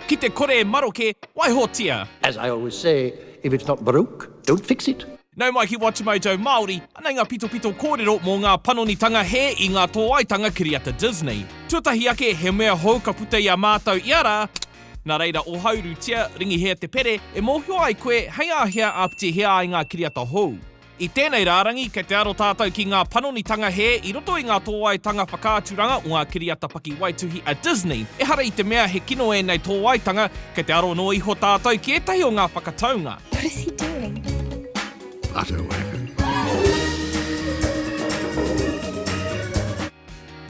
Ki te kore e maroke, waihotia! As I always say, if it's not broke, don't fix it! Nau mai ki Whatumojo Māori, anei ngā pitopito kōrero mō ngā panonitanga hē i ngā tōaitanga kiriata Disney. Tuatahi ake he mea hou ka puta i a mātou ia rā, nā reira ohaurutia, ringihia te pere e mōhio ai koe hei āhea āpitihia ai ngā kiriata hou. I tēnei rārangi, kei te aro tātou ki ngā panonitanga hē i roto i ngā tōaitanga whakaaturanga o ngā kiriata pakiwaituhi a Disney. Ehara i te mea he kino ēnei tōaitanga, kei te aro noa iho tātou ki ētahi o ngā whakataunga. What is he doing? I don't know.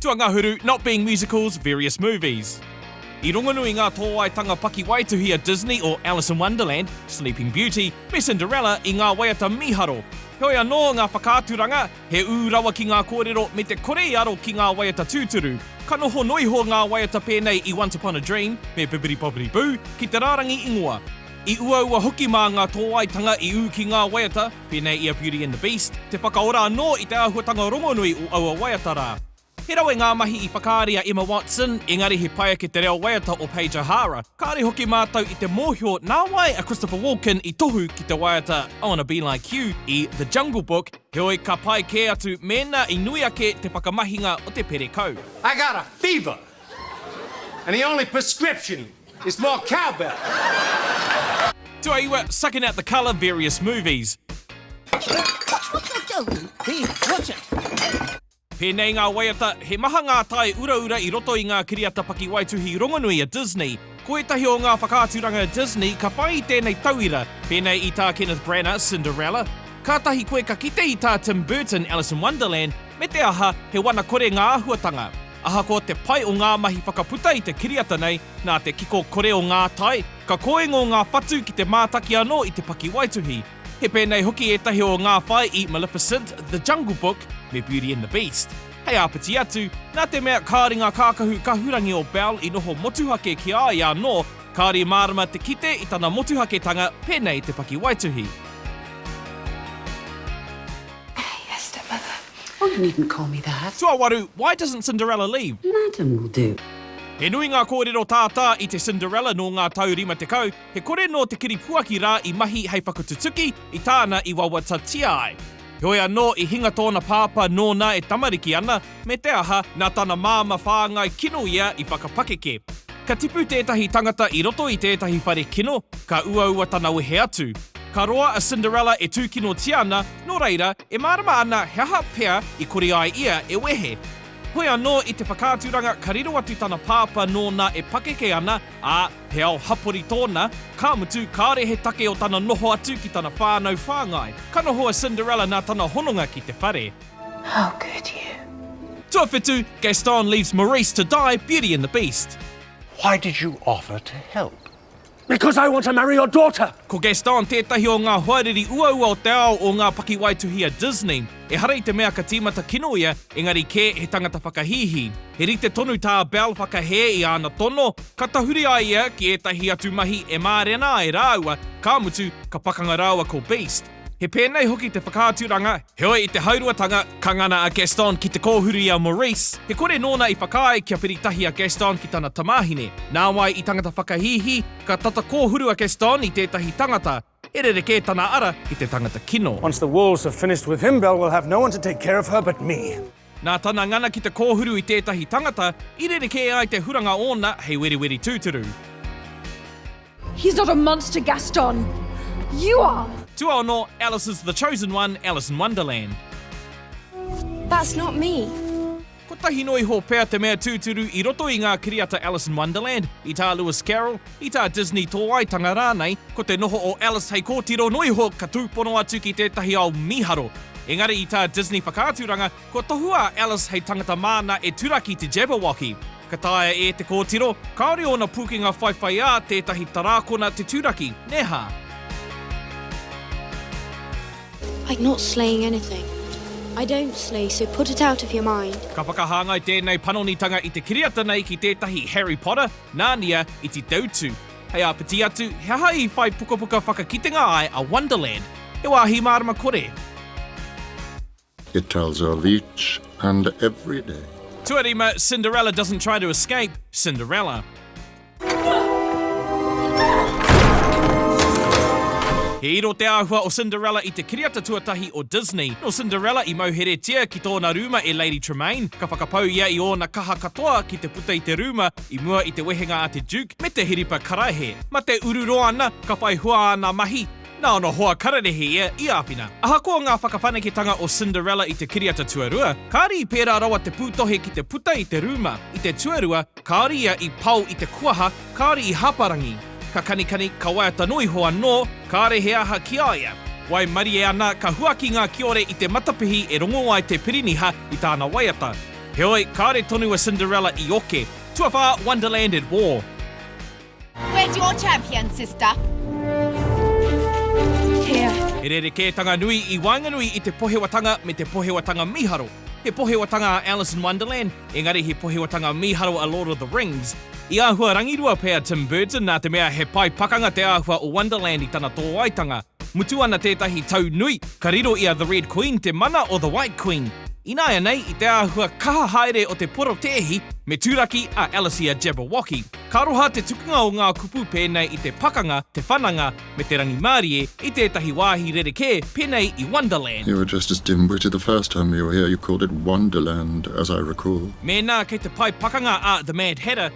Tuangahuru, not being musicals, various movies. I rongonui ngā tōaetanga pakiwaituhi a Disney o Alice in Wonderland, Sleeping Beauty, me Cinderella i ngā waiata mīharo. Heoi anō, ngā whakaaturanga, he ū rawa ki ngā kōrero me te kore i aro ki ngā waiata tūturu. Ka noho noa iho ngā waiata pēnei i Once Upon a Dream me Bibbidi-Bobbidi-Boo ki te rārangi ingoa. I uaua hoki mā ngā tōaetanga i ū ki ngā waiata, Pēnei i a Beauty and the Beast, te whakaora anō i te āhuatanga rongonui o aua waiata rā. He rawe ngā mahi i whakaari a Emma Watson, engari he pai ake te reo waiata o Paige O'Hara. Kāore hoki mātou i te mōhio nā wai a Christopher Walken i tohu ki te waiata I Wanna Be Like You i The Jungle Book, heoi ka pai kē atu mēnā i nui ake te whakamahinga o te perekau. I got a fever and the only prescription It's more cowbell! Tuaiwa, sucking out the colour, various movies. Pēnei ngā waiata, he maha ngā tae uraura i roto i ngā kiriata pakiwaituhi rongonui a Disney. Ko ētahi o ngā whakaaturanga a Disney ka whai i tēnei tauira, pēnei i tā Kenneth Branagh, Cinderella. Kātahi koe ka kite i tā Tim Burton, Alice in Wonderland, me te aha, he wana kore ngā āhuatanga. Ahakoa te pai o ngā mahi whakaputa i te kiriata nei, nā te kiko kore o ngā tai, ka kōingo ngā whatu ki te mātaki anō i te pakiwaituhi. He pēnei hoki ētahi o ngā whai i Maleficent, The Jungle Book, me Beauty and the Beast. Hei āpiti atu, nā te mea kāore ngā kākahu kahurangi o Belle i noho motuhake ki a ia anō, kāore i mārama te kite i tana motuhaketanga pēnei i te pakiwaituhi. Oh you needn't call me that. Tuawaru, Why doesn't Cinderella leave? Madam will do. He nui ngā kōrero tātā i te Cinderella nō ngā tau rima tekau, he kore nō te kiripuaki rā i mahi hei whakatutuki i tāna i wawatatia ai. Heoi anō, i hinga tōna pāpā nōna e tamariki ana, me te aha, nā tana māmā whāngai kino ia i whakapakeke. Ka tipu tētahi tangata i roto i tētahi whare kino, ka uaua tana wehe atu. Ka roa a Cinderella e tūkinotia ana, Nō reira, e mārama ana he aha pea i kore ai ia e wehe. Hoi anō i te whakaaturanga ka riro atu tana pāpā nōna e pakeke ana, ā, he ao hapori tōna, ka mutu kāore he take o tana noho atu ki tana whānau whāngai. Ka noho a Cinderella nā tana hononga ki te whare. How could you? Tuawhitu, Gaston leaves Maurice to die Beauty and the Beast. Why did you offer to help? Because I want to marry your daughter! Ko Gaston tētahi o ngā hoariri uaua o te ao o ngā pakiwaituhi a Disney. Ehara i te mea ka tīmata kino ia, engari kē he tangata whakahīhī. He rite tonu tā Belle whakahē i āna tono, ka tahuri a ia ki ētahi atu mahi e mārena ai rāua, ka mutu, ka pakanga rāua ko Beast. He pēnei hoki te whakaaturanga, heoi i te hauruatanga, ka ngana a Gaston ki te kōhuru i a Maurice, he kore nōna i whakaae kia whiri tahi a Gaston ki tana tamāhine. Nāwai i tangata whakahīhī, ka tata kōhuru a Gaston i tētahi tangata, he rerekē tana ara ki te tangata kino. Once the wolves have finished with him, Belle will have no one to take care of her but me. Nā tana ngana ki te kōhuru i tētahi tangata, i rerekē ai te huranga ōna hei weriweri tūturu. He's not a monster, Gaston! You are! Tuaono, Alice's the Chosen One, Alice in Wonderland. That's not me! Kotahi noa iho pea te mea tūturu i roto i ngā kiriata Alice in Wonderland, i tā Lewis Carroll, I tā Disney tōaitanga rānei, ko te noho o Alice hei kōtiro noa iho ka tūpono atu ki tētahi ao mīharo. Engari i tā Disney whakaaturanga, kua tohua a Alice hei tangata māna e turaki te Jabberwocky. Ka taea e te kōtiro, kāore ōna pūkenga whaiwhaiā tētahi tarākona te turaki, nē hā? Like not slaying anything. I don't slay, so put it out of your mind. Ka whakahāngai tēnei panonitanga i te kiriata nei ki tētahi Harry Potter. Nānia, Iti Teutu. Hei āpiti atu, he aha i whai pukapuka whakakitenga ai a Wonderland? He wāhi mārama kore. It tells of each and every day. Tuarima, Cinderella doesn't try to escape, Cinderella. He iro te āhua o Cinderella i te kiriata tuatahi o Disney. Nō Cinderella i mauheretia ki tōna rūma e Lady Tremaine, ka whakapau ia i ōna kaha katoa ki te. puta i te rūma i mua i te wehenga a te Duke me te hiripa karaehe. Ma te uru roa ana, ka whai hua ana mahi, na ona hoa kararehe ia i āwhina. Ahakoa ngā whakawhanaketanga o Cinderella i te kiriata tuarua, kāre i pērā rawa te pūtohe ki te puta i te rūma. I te tuarua, kāore ia i pao i te kuaha, kāore i hāparangi. Ka kanikani, ka waiata noa iho anō, kāre he aha ki a ia. Waimarie ana, ka huaki ngā kiore i te matapihi e rongo ai te piriniha i tāna waiata. Heoi, kāore tonu a Cinderella i oke. Tuawhā, Wonderland at War. Where's your champion, sister? Here. He rerekētanga nui i waenganui i te pohewatanga me te pohewatanga mīharo. He pohewatanga a Alice in Wonderland, engari he pohewatanga mīharo a Lord of the Rings. I āhua rangirua pea Tim Burton nā te mea he pae pakanga te āhua o Wonderland i tana tōaitanga. Mutu ana tētahi tau nui, ka riro i a The Red Queen te mana o The White Queen. Ināianei, i te āhua kaha haere o te porotēhi, me turaki a Alicia Jabberwocky. Ka roha te tukunga o ngā kupu pēnei i te pakanga, te whananga, me te rangimārie i tētahi wāhi rerekē pēnei i Wonderland. You were just as dim witted the first time you were here, you called it Wonderland, as I recall. Mēnā kei te pae pakanga a The Mad Hatter,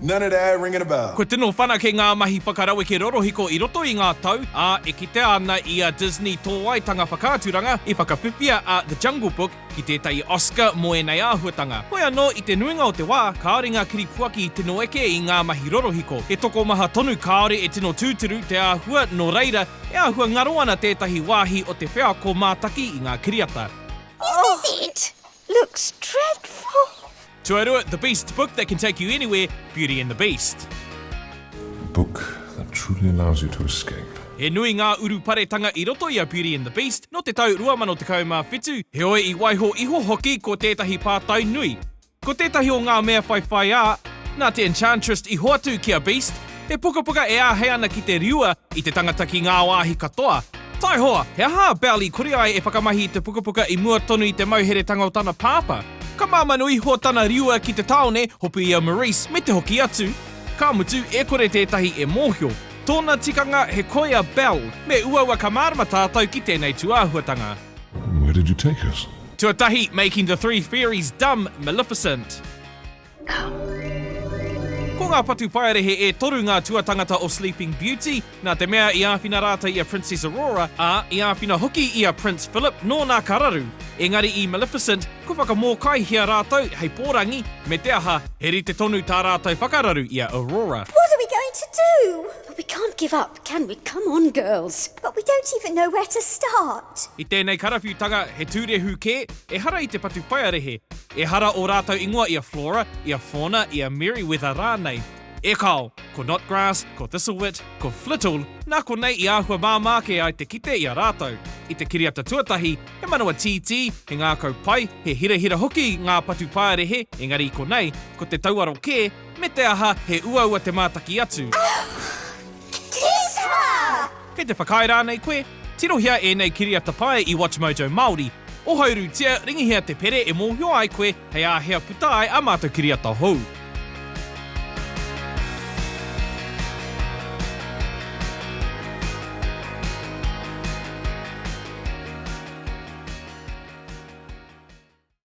None of that ringing a bell. Kua tino whanake ngā mahi whakaraweke rorohiko i roto i ngā tau, ā, e kitea ana i a Disney tō waitanga whakaaturanga i whakawhiwhia a The Jungle Book ki tētahi Oscar mō ēnei āhuatanga. Hoi anō, i te nuinga o te wā, kāore ngā kiripuaki i tino eke i ngā mahi rorohiko. He tokomaha tonu kāore e tino tūturu te āhua, nō reira, e āhua ngaro ana tētahi wāhi o te wheako mātaki i ngā kiriata. Off it! Looks dreadful! Tuarua, The Beast book that can take you anywhere, Beauty and the Beast. The book that truly allows you to escape. He nui ngā uruparetanga i roto i a Beauty and the Beast nō te tau 2017, heoi i waiho iho hoki ko tētahi pātai nui. Ko tētahi o ngā mea whaiwhaiā, nā te Enchantress i hoatu ki a Beast, He pukapuka e āhei ana ki te riua i te tangata ki ngā wāhi katoa. Taihoa, he aha a Bell i kore ai e whakamahi i te pukapuka i mua tonu i te mauheretanga o tana pāpā? Ka māmanu iho tana riua ki te tāone, hopu i a Maurice me te hoki atu. Ka mutu, e kore tētahi e mōhio. Tōna tikanga, he koi a Bell. Me uaua ka mārama tātou ki tēnei tūāhuatanga. Where did you take us? Tuatahi, Making the Three Fairies Dumb, Maleficent. Ko ngā patu paerehe e toru ngā tuatangata o Sleeping Beauty, nā te mea i āwhina rātou i a Princess Aurora, ā, i āwhina hoki i a Prince Philip nōna ka raru. Engari i Maleficent, kua whakamōkaihia rātou hei pōrangi, me te aha, he rite tonu tā rātou whakararu i a Aurora. What are we going to do? Well, we can't give up, can we? Come on, girls! But we don't even know where to start! I tēnei karawhiutanga, he tūrehu kē, ehara i te patu paerehe. Ehara ō rātou ingoa i a Flora, i a Fauna, i a Merryweather rānei. E kāo, ko Knotgrass, ko Thistlewit, ko Flittle, nā konei i āhua māmā kē ai te kite i a rātou. I te kiriata tuatahi, he manawa tītī, he ngākau pai, he hirahira hoki ngā patu paerehe, engari i konei, ko te tauaro kē, me te aha, he uaua te mātaki atu. Kei te whakaae rānei koe? Tirohia ēnei kiriata pae i WatchMojo Māori. Ohaurutia, ringihia te pere e mōhio ai koe hei āhea puta ai ā mātou kiriata hou.